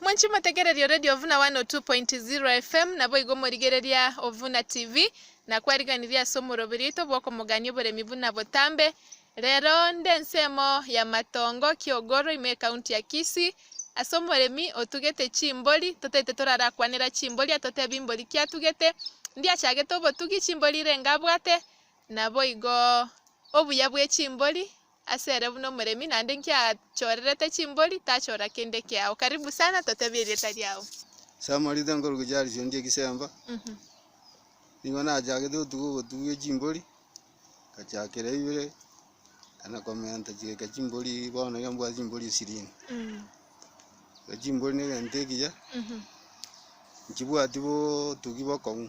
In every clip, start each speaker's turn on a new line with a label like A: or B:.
A: Mwanche motegererie Radio Ovuna 102.0 FM, naboigo morigereria Ovuna TV, na kwariganirie ase omoroberio oito bw'okomogania oboremi buna botambe. Rero nde ensemo ya Matongo, Kiogoro, ime ekaunti ya Kisii, ase omoremi otugete chimbori, totaete torarakwanera chimbori atotebe imbori ki atugete, ndi achagete obotugi chimbori renge abwate, Naboigo obuya bwe chimbori ase ere buna omoremi naende nkiachorerete chimbori tachora kende kiao. Karibu sana totebie erieta riao. Samarita
B: nkoruga Charles ondia egesemba, nigo nachagete gotuga obotugi echimbori, nkachakera ibere, na komenta chireka chimbori bono iga mbwate chimbori ishirini. Echimbori negento ekiya, nchibwati botugi bokong'u.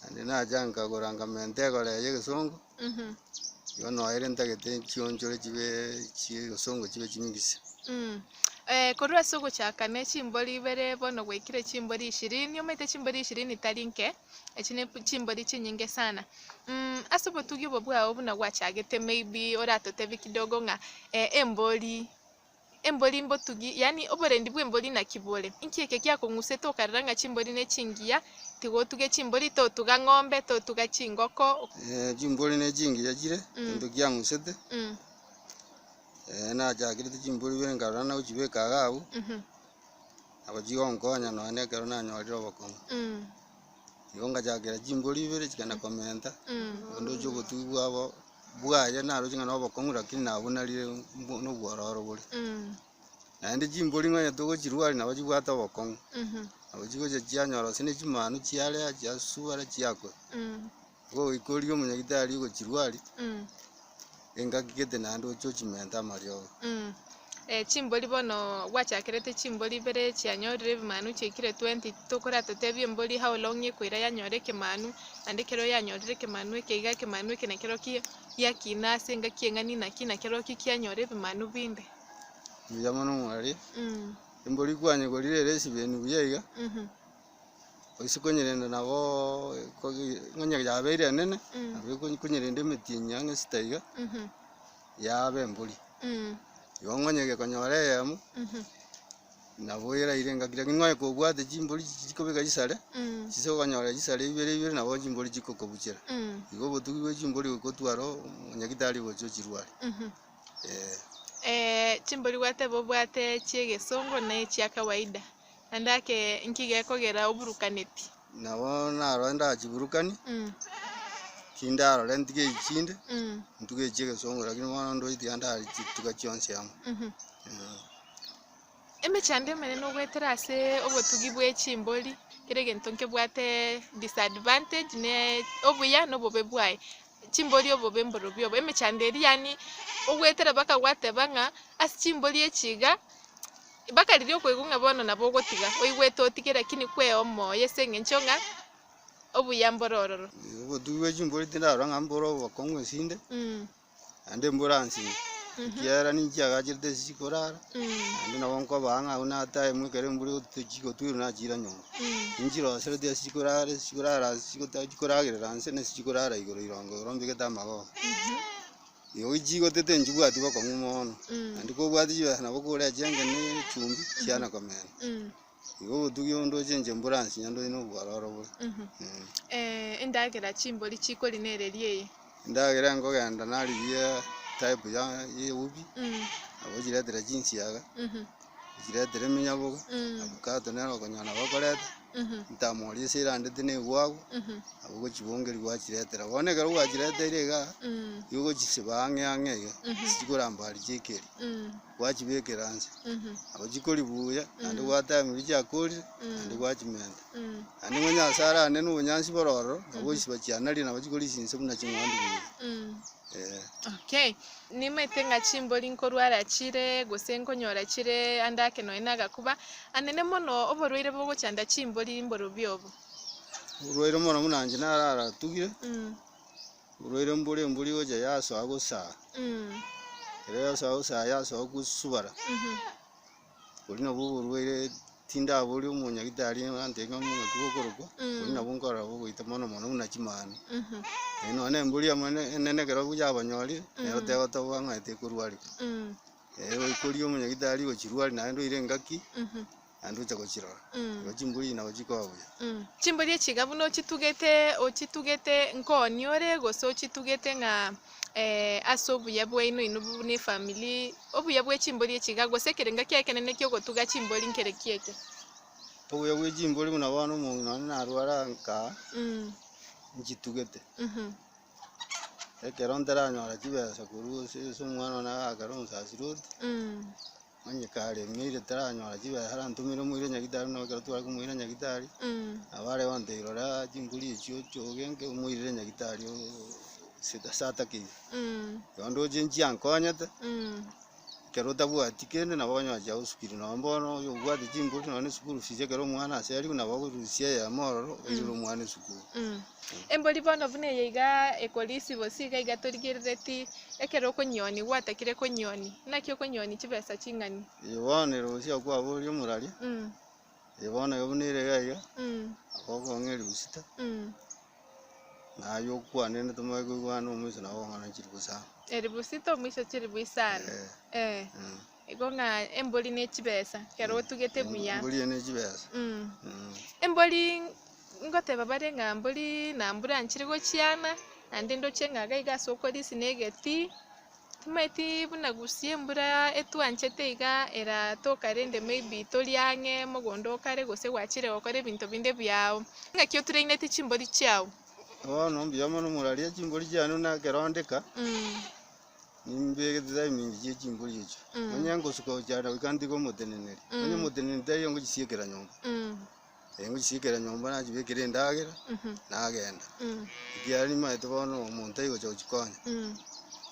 B: Naende nacha nkagora nkamenta egora eye y'egesongo, bono ere ntagete nchionchore chibe chi'egesongo chibe chinyinge ise. Eh,
A: korwa ase ogochaka ne chimbori ibere bono gwaikire chimbori ishirini, omanyete chimbori ishirini tari nke, echi ne chimbori chinyinge sana. Mh, ase obotugi obo bwao buna gwachagete maybe oratotebie kidogo ng'a eh, embori. Embori mbotugi, yaani oborendi bw'embori naki bore? Inki eke giakong'usete okarera ng'a chimbori ne chingiya? Tiga otuge chimbori, totuga ng'ombe, totuga chingoko. Chimbori ne
B: chingiya chire egento giang'usete. Nachakerete chimbori ibere nkarora nagochibeka iga abwo, nabo chigonkonya nonya na ekero nanyorire obokong'u. Igo ngachakera chingori ibere chikagenda komenta, ndoche ogotugigwa abo bwaye naroche ng'a nobokong'u lakini nabunarire mbo- nobwororo bore. Naende chimbori ngonyete ogochirwa aria nabo chibwate obokong'u, nabo chigocha chianyora gose ne chimanu chiarea, chiasubara, chiakwa. Ngogoikoria omonyagitari ogochirwari, engaki gete naende ochie ochimenta amariogo.
A: Chimbori bono gwachakerete chimbori ibere chianyorire ebimanu chiaikire 20 titokora totebie embori how long ekoira yanyora ekemanu naende ekero yanyorire ekemanu eke iga ekemanu eke nekero ki giakina ase engaki eng'ani naki nakero ki kianyora ebimanu binde. Buya mono
B: mwariete. Embori kwanyekorire ere esibeni buya iga. Gose konyerenda nabo kogi onye yabeire enene, nabo ekonye konyerenda emetienyi ang'e esita iga, yaba embori. Igo onye gekonyora eyemo, nabo eraire engaki lakini nonya kobwate chimbori chichi chikobeka chisare, chise okonyora chisare ibere ibere nabo chimbori chikokobuchera. Igo obotugi bwe chimbori gokotwara oo- omonyagitari gocha ochirware, eeh.
A: chimbori gwateba obwate chiegesongo na echia kawaida. Naende ake, Inki gekogera oburukaneti? Nabo
B: narore nda chiburukani, Mm. tindarore ntige echi chinde, Mm. ntuge echi egesongo, lakini bono ndoe tiga ndare chituga chionsi amo. Mhm. Mm.
A: Emechando emenene ogoetera ase obotugi bwe chimbori, kera egento nkebwate disadvantage ne obuya na obobe bwaye. Chimbori obobe mborobio obo, emechando eria yaani ogoetera baka gwateba ng'a ase chimbori echi iga, Ibaka riria okoigwa ng'a bono nabo ogotiga, oigwete otige, lakini kwea omoyo ase engencho ng'a obuya mbore ororo. Obotugi bwe
B: chimbori tindarora ng'a mbore obokong'u ase inde, Mm, naende mbore ansini, ekiagera ninche agacherete ase chikorara, mm, naende nabo nkobaa ng'a buna time ekero embura egotu- chigotwirwa nachira nyomba. mm, Ninchirosereti ase chikorara chikorara ase chigota chikoragerera nse na ase chikorara igoro irongo igoro mbegete amagogo. mhm. Igo chigo tete nchibwati bokong'u mono, naende kobwati chibesa nabo korea chianga na echumbi chiana komena. Igo obotugi obo ndoche inche mbore ase onye ndoche na obwororo bore. Eh,
A: endagera chimbori chikori nereria eye. Endagera
B: nkogenda narigia type ya ya ewubi, nabo ochiretera chinsiaga. Nchiretire eminyabogo, Avocado nere okonyora nabo okoreta, ntamoria ase erandete naigwe agwo, nabo ogochibongeria gwachiretera. Bono ekero gwachireteire igaa, nigo ogochisiba ang'e ang'e iga, chikoramba aria chiaikeri, gwachibekera inse, nabo chikori buya, naende gwatebirie chiakorire, naende gwachimenta. Naende nigo Nyasae arane na obonyansi bore ororo, nabo ogochisiba chianarire nabo chikorisia inse buna ching'wandu buya, eh. Okay.
A: Nimaete ng'a chimbori nkorwara chire, gose nkonyora chire ande ake nonya nagakuba. Anene mono, oborwaire bogochanda chimbori mborobio obo? Oborwaire
B: omono buna inche nararatugire, oborwaire mbore embori gocha yasoa gosaya. Ekero yasoa gosaya yasoa gosubara. Oria nabwo oborwaire tindaboria omonyagitari antebie ng'a omong'ake oyo okorokwa, oria nabwo nkorora bogoita mono mono buna chimanu. Eh, nonya na embori amo ene- enene ekero buya abanyori, nero tegotoboa ng'a tekorwareka. Eh, goikoria omonyagitari gochirwari naende oire engaki, naende oche gochirora. Igo chimbori echi nabo chikoba buya. Chimbori echi iga buna
A: ochitugete ochitugete nkoni ore gose ochitugete ng'a. ase obuya bwaino inwe bobua ne efamiri, obuya bwe chimbori echi iga, gose ekerengo ki'ekenene ki'ogotuga chimbori nkere ki eke? Obuya
B: bwe chimbori buna bono omong'ina one narware ankaa, nchitugete. Ekero ntaranyora chibesa korwa ase omwana one agakera omosasirote. Onye kare emeeri etaranyora chibehera ntumire omoira nyagitari buna ekero tware komoira nyagitari nabo are gontebi rora chimbori echio chogenke omoirere nyagitari oo ase ase atakeire igo ndoche nchie ankonyete ekero otabwati kende nabo okonyora chiagosukire nonye bono oyo obwate chimbori nonye na eschool fees ekero omwana aase arigwe nabo okorusia eyemo ororo oirere omwana esukuru. Embori
A: bono buna eye iga ekorisia bosio iga iga torigereretie ekero okonyionia gwatakire konyionia. Naki okonyionia chibesa ching'ani. Ee bono ere bosio
B: akwaboria omorari, Mm, ee bono iga buna ere iga iga, mm, akokong'a erigusita, mm. na aye okwane rende tomanye koigwana omoiso nabo okong'a nonya chilifu isano. Eribu sita omoiso
A: chilifu isano. Eh, Eh. mm. Igo ng'a embori ne chibesa, ekero otugete buya. Embori eye ne chibesa. Mm.
B: Mm. Embori
A: ngoteba bare ng'a mbori na mbura nchire gochiana naende ndoche ng'a iga iga ase okorisia na egeti timaeti buna gusia embura etwanchete iga eratoka rende maybe tori ang'e mogondo okare gose gwachire gokora ebinto binde biago. Ng'aki otraineti chimbori chiago? Bono mbuya
B: mono moraria chimbori chiane buna ekero ndika. Mm. Nimbeegete tari minchi chie chimbori echo, onye ngosuka gochia na goika ntige omoteneneri, onye omoteneneri taiyo ngochisiekera nyomba, ee ngochisiekera nyomba nachibekera endagera, nagenda. Ekiagera nimanyete bono omonto tari gocha gochikonya,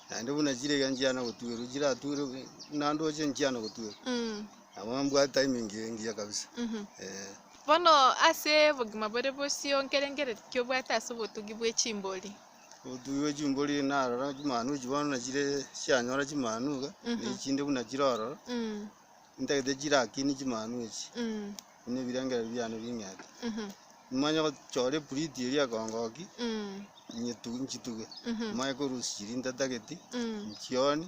B: naende buna chire iga nchiana gotuerwa, chiratuerwe nandoche nchiana gotuerwa, nabo mbwate tari minchi engiya kabisa, ee.
A: Bono ase obogima bore bosio nkerengereria ki obwate ase obotugi bwe chimbori? Otuigwe
B: chingori narora chimanu echi bono na chire chianyora chimanu iga, na echi chinde buna chire ororo, intagete chirakini chimanu echi, buna ebirengererio biane bing'ete. Nimanye gochora epuriti eria ekongoki, inyetu- nchituge, nimanye korusia chiri ntatageti, nchioni.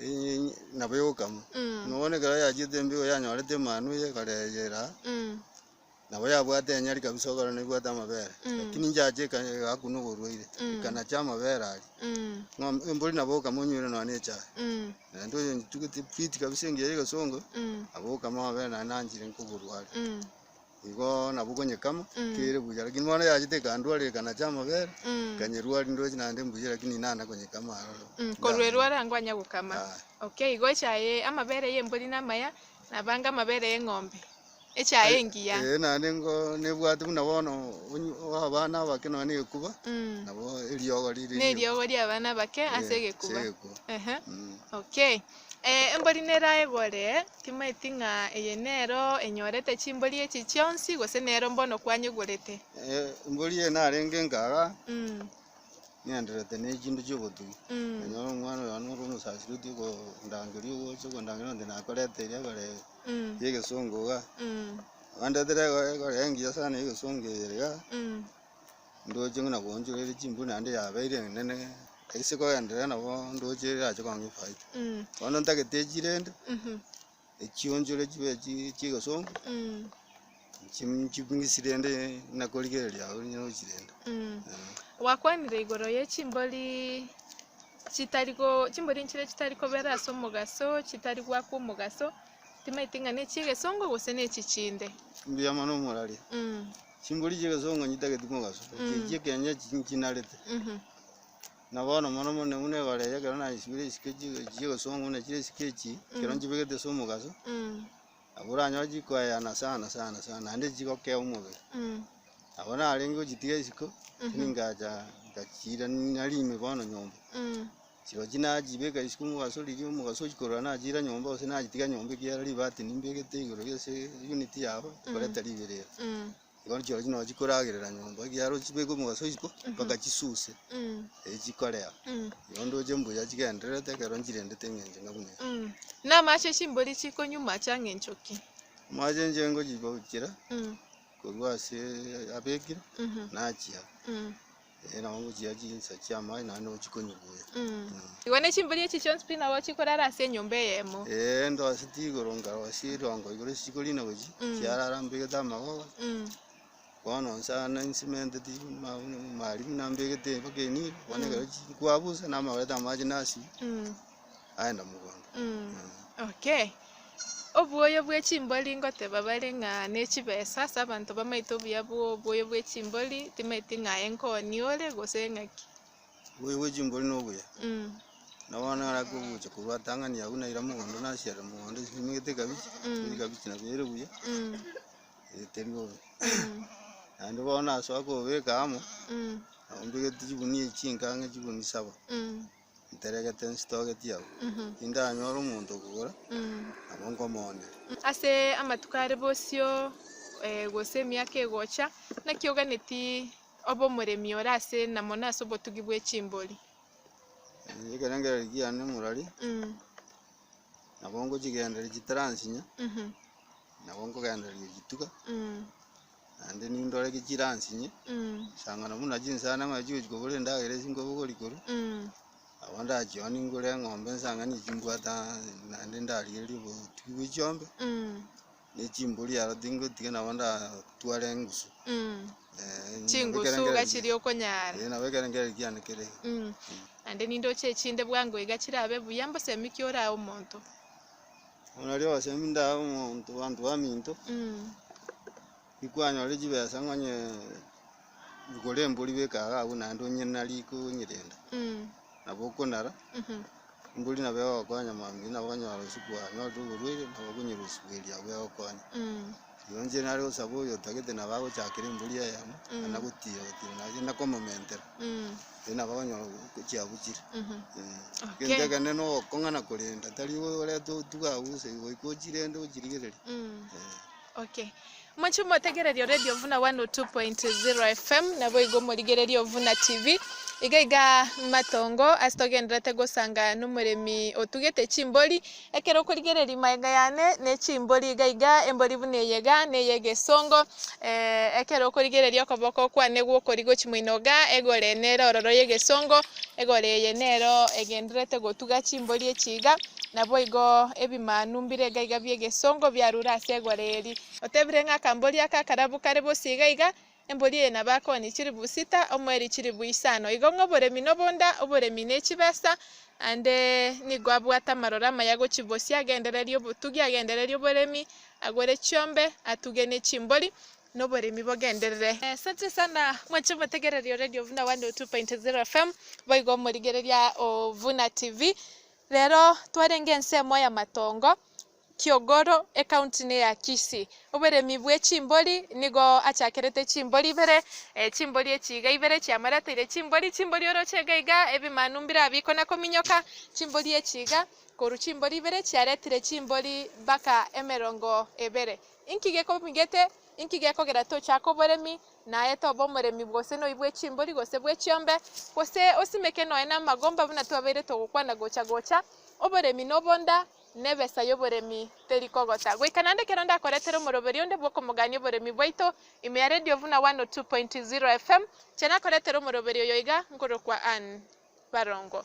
B: Enyinyi nabo egokama. Mm. Na obono ekero yachiete embigo yanyorete emanu eye ekareyera, Mm. nabo yabwate enyari kabisa okorora nebwate amabere. Mm. Lakini inchache eka- egakwa noborwaire, Mm. ekanacha amabere aria. Mm. Ng'om- embori nabo ogokama onywire nonya na echae. Mm. Naende oyo ntugete fiti kabisa engiya ya egesongo, Mm. nabo ogokama amabere naye nanchire nkoborware. Mm. Igo nabwo konyekama kere buya, lakini bono yachete ekandwarera ekanacha amabere, nkanyerwari ndoche naende mbuya, lakini inana konyekama aroro. Mm, korwa erwaro
A: ango anya gokama. Aye. Okay, igo echaye amabere y'embori namaya, nabange amabere y'eng'ombe, echaye engiya. Ee, naende ngo
B: nebwate buna bono onyu- abana abake nonya na ekuba, Mm. nabo eriogo rire Na eriogo ri'abana
A: abake ase Eh, egekuba. ase egekuba. Ehe. Mm. Okay. Embori neraegore, timaeti ng'a eye nero enyorete chimbori echi chionsi, gose nero mbono kwanyegorete. Embori eye
B: narenge nkaga, ng'endererete ne chinto chi'obotugi, nanyora omwana oyomo ore omosaseri otiga kondangeria ogocha okondangeria onde nakorete eria egore y'egesongo iga, abandetere egore engiya sana y'egesongo eye iga. Ndoche buna koonchoreria chimbuya naende yabeire enene, ase kogenderera nabo ndoche erache kong'aa efaita. Bono ntagete echio rende, echionchore chibe chi- chi'egesongo, nchi- ching'isi rende buna korigereria agwo buna ochi rende, eh.
A: Gwakwanire igoro ye chimbori chitari go chimbori nchire chitari kobera ase omogaso, chitari goakwa omogaso, timaeti ng'a ne chi'egesongo gose ne echi chinde. Mbuya mono
B: omorari. Chingori chi'egesong'anyi tageti mogaso, echi'echio ekenyoro chinchiinarete. Na bono mono mono na buna ebara eye ekero naisibire isiko echi chi'egesong'u na chire isiko echi, ekero nchibegete ase omogaso, nabo oranyore chikoeana sana sana sana naende chigokea omobere. Nabo narenge gochitiga isiko, ningacha nkachiira nari ime bono nyomba. Chirochi nachibeka isiko omogaso riria omogaso ochia korora nachira nyomba gose nachitiga nyomba ekiagera ribati nimbegete igoro ase unit yabo ekoreta riberera. Bono chirochi nonya chikoragerera nyomba ekiagera ochibeke omogaso isiko mpaka chisuse erio chikorea. Bono ndoche mbuya chigendererete ekero nchirendete eng'encho ng'a buna eke. Namache
A: chimbori chikonywa mache ang'e encho ki? Amache inche
B: ngochibokera korwa ase abekire nachia. Ee, nabo ngochia chinsa chi'amache naende nabo chikonyibuya. Igo ne
A: chimbori echi chionsi pi nabo chikorara ase enyomba eyemo. Ee, ndwaseti
B: igoro nkarosia erongo igoro ase chikorina gochia, Mm. chiarara mbegete amagogo. Mm. Bono inse aya nainsementeti ma- marimu nambegete mpaka eniro, bono Mm. ekero chikwabusa, namaorete amache nasibia. Mm. aenda mogondo.
A: Okay. Obuoyo bwe chimbori ngoteba bare ng'a ne chibesa ase abanto bamaete obuya bwo obuoyo bwe chimbori timaeti ng'a aye nkoni ore gose ng'aki. Obuoyo bwe
B: chimbori no obuya. Mm. Na bono ara kogocha korwa atang'ani agwo naira mogondo nasiarera mogondo chisimegete ekabichi, Mm. ekabichi nabo ere buya, Mm. eh, teri bobe. Mm. Naende bono nasoa kobeka amo, Mm. nabo mbegete chigunia echi ching'ang'a chigunia saba. Mm. Nteregete nsitogetie abwo, tindanyora omonto okogora, nabo nkomoonera. Ase amatuko
A: are bosio, gose emiaka egocha, naki oganeti obe omoremi ore ase na mono ase obotugi bwe chimbori?
B: Ekerengerero kiane morari, nabo ngochigendereria chitaransinya, nabo nkogendereria chituga, Naende nindore gechiransinye, chisang'ana buna chinsana ng'ai chigochia kobora endagera ase chingoko gori korwa. Nabo ndachia ningure eng'ombe nsang'ani echi mbwate ang'e naende ndarigererie obotugi bwe chiombe, ne chimbori aro tingotiga nabo ndatware engusu.
A: Chingusu iga chiria okonyara. Ee nabo ekero nkereri kiane
B: kere iga. Naende
A: nindoche echinde bwango iga chirabe buya mbosemi kiora omonto.
B: Onario ogosemia inde aye omonto banto baminto, nikwanyore chibesa ng'onye rigore embori beke iga agwo naende onye nari konyerenda, nabo okonara, embori nabo egokonya mambia nabo okonyora botuko bwanyorire oborwaire, nabo okonyora obosuku erio agwo egokonya. Oyoonchire nare gosaba oyo otagete nabo agochakera embori eyemo, na nagotiira gotiira naye na komomentera, erio nabo agonyora chiabu chire. Okay. Egento ekende na ogokong'ana korenda, tari orete otuga agwo gose goika ochirende ochirigereria. Eh.
A: Okay. Moche motegereria Radio Ovuna 102.0 FM, naboigo morigereria Ovuna TV. Iga iga matongo ase togenderete gosanga nomoremi otugete chimbori, Ekero okorigereria magega yane ne chimbori iga iga, embori buna eye iga, na eye egesongo, ee, ekero okorigereria okoboko kwane gw'okorio gochia moino iga, egore nere ororo y'egesongo, egore eye nero egendererete gotuga chimbori echi iga, naboigo ebimanu mbire iga iga bi'egesongo biarure ase egore eri. Otebire ng'a akambori aka akarabu kare bosio iga iga, Embori eye nabo akooni chilifu sita, omweeri chilifu isano. Igo ng'a oboremi nobonda, oboremi nechibesa, aande nigo abwate amaroro amaya gochibosia, agendererie obotugi, agendererie oboremi, agwere chiombe, atuge nechimbori, noboremi bogenderere. Asante sana mwanche omotegereri o radio buna 102.0 FM, boigo omorigereria o Buna TV. Rero twarenge ense emo y'amatongo, Kiogoro ecounty ne ya Kisii. Oboremi bwe chimbori nigo achakerete chimbori ibere, chimbori echi iga ibere chiamoreteire chimbori, chimbori oroche iga iga ebimanu mbire abwo bikona kominyoka, chimbori echi iga korwa chimbori ibere chiaretire chimbori mpaka emerongo ebere. Inki gekomigete? Inki gekogera tochake oboremi naye tobe omoremi gose noyi bwe chimbori gose bwe chiombe gose osimeke noye namagomba buna twabeire togokwana gocha gocha? Oboremi nobonda nebesa y'oboremi teri kogota, goika naende ekero ndakoretere omoroberio onde bw'okomogania oboremi bwaito ime ya Radio Vuna 102.0 FM, inche nakoretere omoroberio oyo iga nkorokwa Ann. Barongo.